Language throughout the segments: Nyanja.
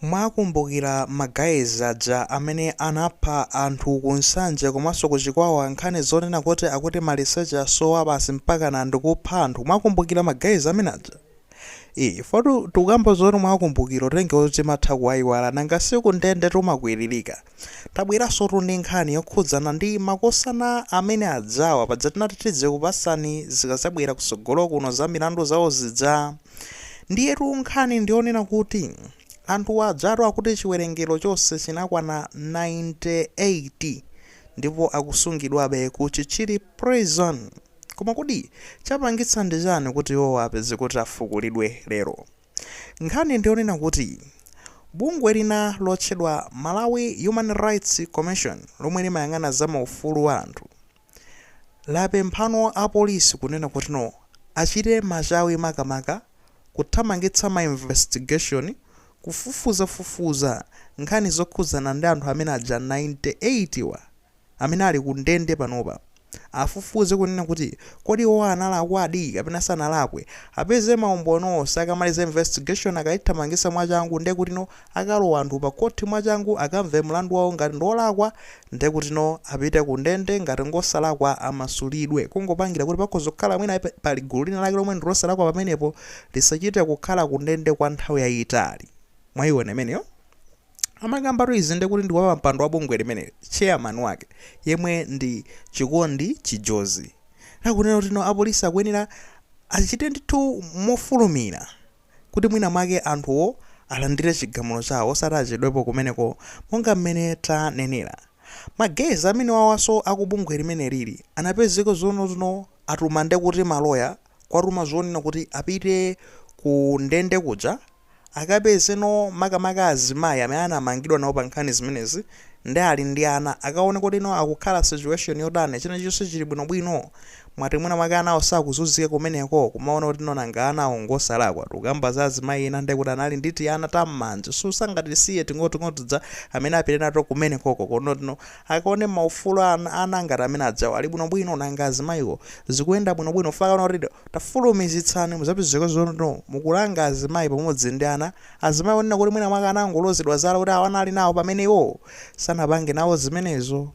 Mwakumbukila ma guys aja amene anapha anthu ku Nsanje komanso ku Chikwawa nkhani zonena kuti akuti maliseche asowa basi mpakana ndikupha anthu mwakumbukila ma guys amene aja? Eee ifotu tikukamba zoti mwakumbukila potengera kuti timatha kuwaiwala nanga si ku ndende timakwililika. Tabweransotu ndi nkhani yokhudzana ndi makosana amene ajawa paja tinati tidzikupasani zikazabwera kusogolo kuno za milandu zawo zija ndiyetu nkhani ndiyonena kuti anthuwa ajatu akuti chiwerengero chonse chinakwana 98 ndipo akusungidwabe ku Chichiri prison koma kodi chapangitsa ndi chani kuti iwowa apezeke kuti afukulidwe lero? Nkhani ndi yonena kuti bungwe lina lotchedwa Malawi Human Rights Commission lomwe limayang'ana za maufulu a anthu lapemphano a polisi kunena kutino achite machawi makamaka kuthamangitsa ma investigation, kufufuzafufuza, nkhani zokhudzana ndi anthu amene aja 98 wa. amene ali ku ndende panopa, afufuze kunena kuti kodi iwowa analakwadi kapena sanalakwe, apeze ma umboni onse, akamaliza investigation akaithamangitsa mwachangu ndekuti no akalowe anthu pa khothi mwachangu akamve mlandu wawo ngati ndiolakwa ndekuti no apite ku ndende ngati ngosalakwa amasulidwe kungopangira kuti pakhoza kukhala mwina pali gulu lina lake lomwe ndilosalakwa pamenepo lisachite kukhala ku ndende kwa nthawi yayitali. Mwayiona imeneyo? Amakambatu izi ndekuti ndi wapampando wa bungwe limeneli, chairman wake, yemwe ndi Chikondi Chijozi. Akunena kuti no apolisi akuyenera achite ndithu mofulumira kuti mwina mwake anthuwo alandire chigamulo chawo osati achedwepo kumeneko monga mmene tanenera. Ma guys amenewawaso akubungwe limenelili anapezeka zoti no atuma ndekuti maloya kuwatuma zonena kuti apite ku ndende kuja, akapeze no makamaka azimayi amene anamangidwa nawo pa nkhani zimenezi ndi ali ndi ana akaone kuti no akukhala situation yotani china chonse chili bwino bwino moti mwina mwake anawo sakuzunzika kumeneko kumaona kuti no nanga anawo ngosalakwa tikukamba za azimayi ena ndekuti anali ndi tiana ta mmanja so sangatisiye ting'ono ting'ono tija amene apite nato kumenekoko kuona kuti no akaone maufulu a ana, ana ngati amene ajawo ali bwino bwino nanga azimayiwo zikuyenda bwino bwino chifukwa akaona kuti tafulumizitsani muzapezeka kuti no mukulanga azimayi pamodzi ndi ana azimayi onena kuti mwina mwake anangolozedwa zala kuti awa anali nawo pamene iwowo sanapange nawo zimenezo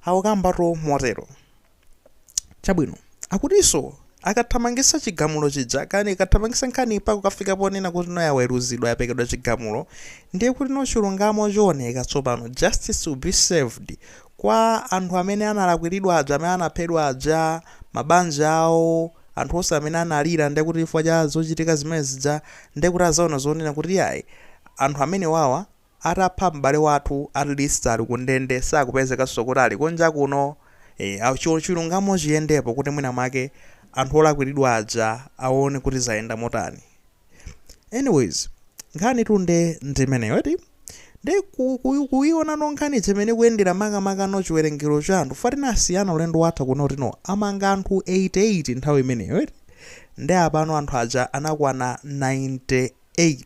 akukambatu motero. chabwino akutinso akathamangisa chigamulo chija kani akathamangisa nkhani mpaka kukafika ponena kuti no yaweruzidwa yapekedwa chigamulo ndiye kuti no chilungamo chioneka tsopano justice will be served kwa anthu amene analakwiridwa aja amene anaphedwa aja mabanja awo anthu onse amene analira ndiye kuti chifukwa cha zochitika zimene zija ndiye kuti azaona zoonena kuti yayi anthu amenewawa atapha m'bale wathu at least ali ku ndende sakupezekanso kuti ali kunja kuno eeh chilungamo chiyendepo kuti mwina mwake anthu olakwiridwa aja awone kuti zayenda motani anyways nkhanitu nde ndimeneyo eti nde kuionano nkhani ija mmene ikuyendera makamakano chiwerengero cha anthu ifa tinasiyana ulendo watha kuti no amanga anthu 88 nthawi imeneyo eti nde apano anthu aja anakwana 98 8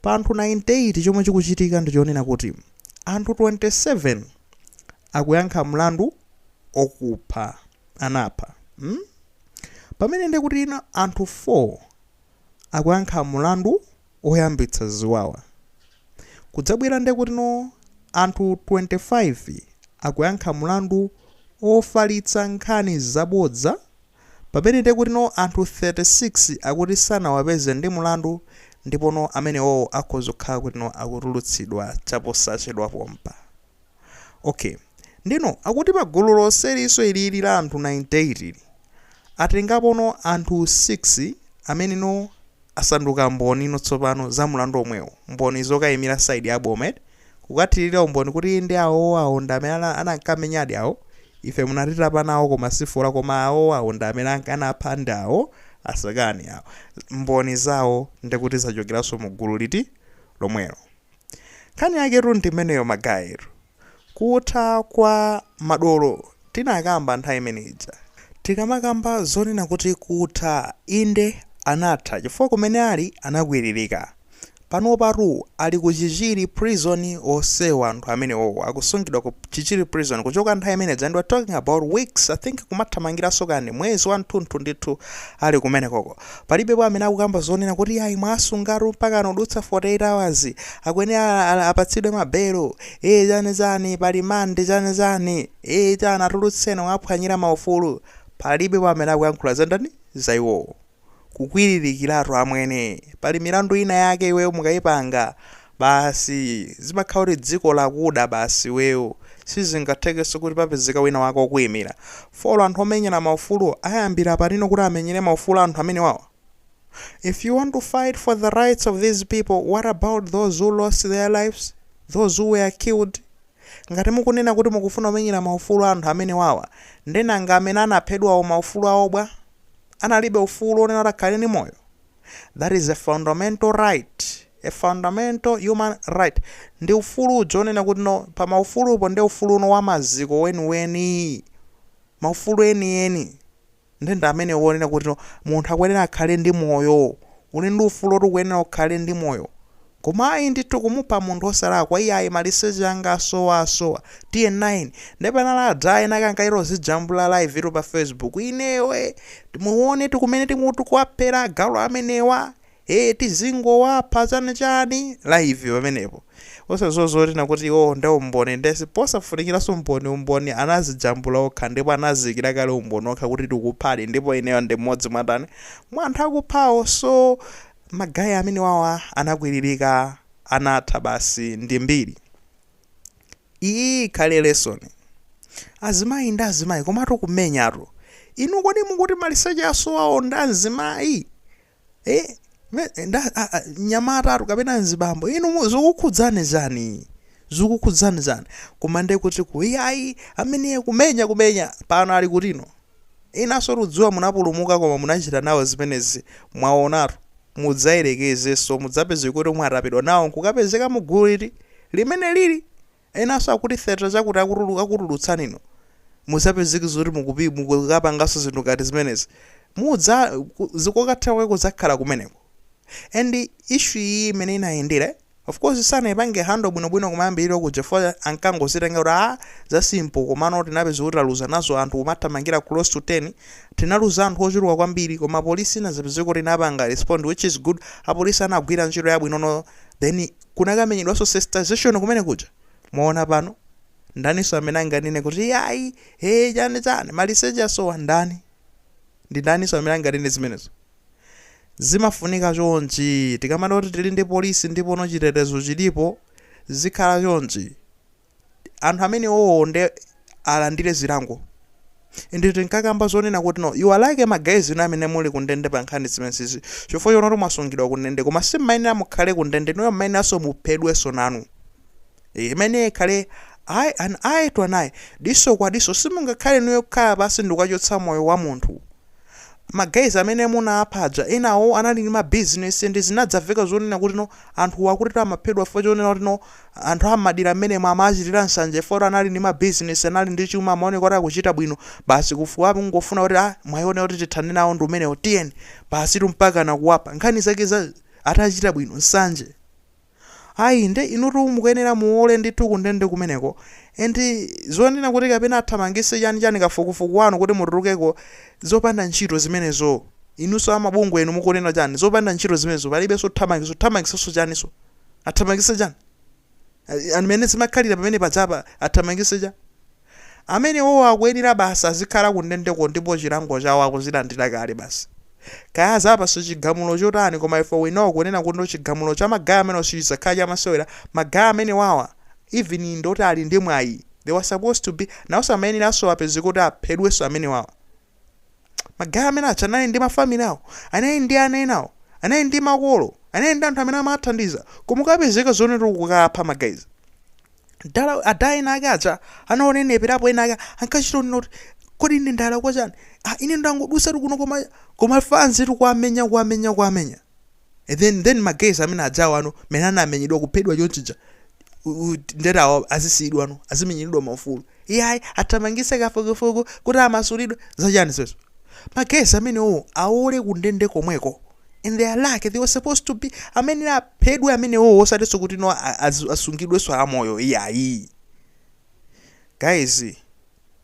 pa anthu 98 chomwe chikuchitika ndi chonena kuti anthu 27 akuyankha mlandu okupha anapha mm? pamene nde kuti no anthu 4 akuyankha mlandu oyambitsa ziwawa kudzabwera nde kuti no anthu 25 akuyankha mlandu ofalitsa nkhani zabodza Pamene nde kuti no anthu 36 akuti sanawapeze ndi mlandu ndipo no amenewowo akhoza kukhala kuti no akutulutsidwa chaposachedwa pompa. Ok. Ndiye no akuti pa gulu lonseliso ilili la anthu 98 li, atengapo no anthu 6 amene no. asanduka mboni no tsopano za mlandu omwewo, mboni zokayimira side ya boma eti, kukathirira umboni kuti inde awowo awo ndi amene anankamenyadi awo, ife munatitapa nawo koma si fola koma awowo awo ndi amene anapha ndi awo asakani awo, mboni zawo nde kuti zachokeranso mu gulu liti lomwelo. Nkhani yaketu ndi imeneyo ma guy inu. Kutha kwa madolo tinakamba nthawi imene ija. Tikamakamba zonena kuti kutha, inde anatha chifukwa kumene ali anakwiririka. Panopatu ali ku Chichiri Prison onsewo anthu amenewowo akusungidwa ku Chichiri Prison kuchoka nthawi imene ija and we're talking about weeks, I think kumathamangiranso kani mwezi wathunthu ndithu ali kumenekoko. Palibepo amene akukamba zonena kuti yayi mwawasungatu mpakana kudutsa 48 hours, akuyenera apatsidwe ma belo, ee chani chani, pa rimandi chani chani, ee chani atulutseni mwawaphwanyira ma ufulu. Palibepo amene akuyankhula za ndani? Za iwowo. Kukwiririkiratu amwene. Pali milandu ina yake iweyo mukayipanga, basi zimakhala kuti dziko lakuda basi iweyo sizingathekenso kuti papezeka wina wake okuimira folo anthu omenyera maufuluwo ayambira pati no kuti amenyere maufulu a anthu amenewawa if you want to fight for the rights of these people what about those who lost their lives those who were killed ngati mukunena kuti mukufuna kumenyera maufulu a anthu amenewawa nde nanga amene anaphedwawo maufulu awo bwa analibe ufulu onena kuti akhale ndi moyo That is a fundamental right, a fundamental human right, ndi ufulu uja onena kuti no pa maufulupo ndi ufulu uno wa maziko weniweni, maufulu enieni nde ndi amenewo onena kuti no munthu akuyenera akhale ndi moyo, uli ndi ufulu woti ukuyenera ukhale ndi moyo, Koma ayi ndithu kumupha munthu osalakwa iyayi maliseche anga asowa asowa tiye 9 nde panali adzaena ankaika ozijambula live tu pa facebook ineyo eh muonetu mmene timutikuwaphera agalu amenewa eh tizingowapha chani chani live pamenepo osaziwa zoti ena kuti iwowo nde umboni nde posafunikilanso umboni umboni anazijambula okha ndipo anaziikila kale umboni okha kuti tikuphadi ndipo ineyo ndi mmodzi mwa ndani mwa anthu akuphawo so Ma guy amenewawa anakwililika anatha basi ndi mbiri iyi ikhale lesson azimayi ndi azimayi komatu kumenyatu inu kodi mukuti maliseche asowawo ndi amzimayi eh, me- nda- a- a- mnyamatatu kapena mzibambo inu mu- zikukhudzani chani zikukhudzani chani koma ndekuti iyayi amene kumenya kumenya pano ali kuti no Inunso tudziwa munapulumuka koma munachita nawo zimenezi mwaonatu mudzayerekezenso mudzapezeke kuti mwatapidwa nawo nkukapezeka mu gulu liti? Limene lili enanso akuti theatre chakuti akutulutsani inu mudzapezeke zoti mukukapanganso zinthu ngati zimenezi kokathera kwake kudzakhala kumeneko and issue iyi mmene inayendera eh? Of course sanaipange handle bwinobwino kumayambiriro kuja chifukwa ankangozitenga kuti aah za simple komano tinapeza kuti taluza nazo anthu kumathamangira close to 10, tinaluza anthu ochuluka kwambiri koma police inadzapezeka kuti inapanga respond which is good, apolice anagwira ntchito yabwinono then kunakamenyedwanso sensitization kumene kuja. Mwaona pano? Ndaninso amene anganene kuti iyayi, hee chani chani, maliseche asowa? Ndani? Ndi ndaninso amene anganene zimenezo? Zimafunika chonchi. Tikamati kuti tili ndi polisi ndipo no chitetezo chilipo, zikhala chonchi. Anthu amenewowo nde alandire zilango. Inde tinkakamba zonena kuti no, you are lucky ma guys inu amene muli kundende pa nkhani zimenezizi chifukwa chonoti mwasungidwa kundende koma simmayenera mukhale kundende inuyo mmayeneranso muphedwenso nanu. Eh, imeneyo ikhale eye, an eye to an eye, diso kwa diso simungakhale inuyo kukhala pansi ndikukachotsa moyo wa munthu. ma guys amene munapha aja enawo anali ndi ma business and zinadzaveka zonena kuti no anthu akuti amaphedwa chifukwa chonena kuti no anthu amadira amene amachitira nsanje chifukwa kuti anali ndi ma business anali ndi chuma amaoneka kuti akuchita bwino basi kufuna kungofuna kuti ah mwaiona kuti tithane nawo ndi umenewo tiyeni basi mpakana kuwapa nkhani zake za atachita bwino nsanje Ayi, nde inutu mukuyenera muole ndithu kundende kumeneko and zonena kuti kapena athamangise chani chani kafukufuku wanu kuti mutulukeko zopanda ntchito zimenezo inunso amabungwe inu mukunena chani zopanda ntchito zimenezo palibenso kuthamangisa kuthamangisanso chaninso athamangise chani and mene zimakhalira pamene pajapa athamangise chani. Amenewowo akuyenera basi azikhala kundendeko ndipo chilango chawo akuzilandira kale basi. Kaya azawapase chigamulo chotani koma ife we know kunena kuti chigamulo cha ma guy amenewa sichizakhala chamasewera, ma guy amenewawa even ndi oti ali ndi mwayi, they were supposed to be, nawoso amayeneranso apezeke kuti aphedwenso amenewawa. ma guy amene aja anali ndi ma family awo anali ndi ana enawo anali ndi makolo anali ndi anthu amene amawathandiza koma ukapezeka zonena kuti ukukapha ma guys dala ada enaake aja anawoneneratu apo enaake ankachita kunena kuti kodi ine ndalakwa chani ah, ine ndangodusatu kuno koma koma fanzi tikuwamenya kuwamenya kuwamenya and then ma guys amene aja awano mene anamenyedwa kuphedwa chonchija u- u- nde eti awa azisiyidwano azimenyeredwa maufulu iyayi athamangise kafukufuku kuti amasulidwe zachani zimenezo ma guys amenewo aole kundende komweko and they are lucky they were supposed to be amene aphedwe amenewo osatinso kuti no a- azu- asungidwenso amoyo iyayi guys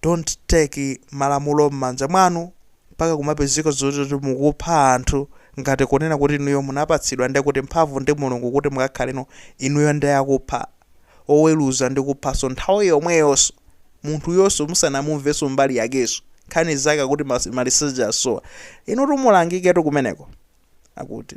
don't take malamulo mmanja mwanu mpaka kumapezeka zoti mukupha anthu ngati kunena kuti inuyo munapatsidwa ndi kuti mphamvu ndi Mulungu kuti mukakhaleno inuyo ndi akupha oweruza ndi kuphanso nthawi yomweyonso munthuyonso musanamumvenso mbali yakenso nkhani zake akuti maliseche asowa inutu mulangiketu kumeneko akuti.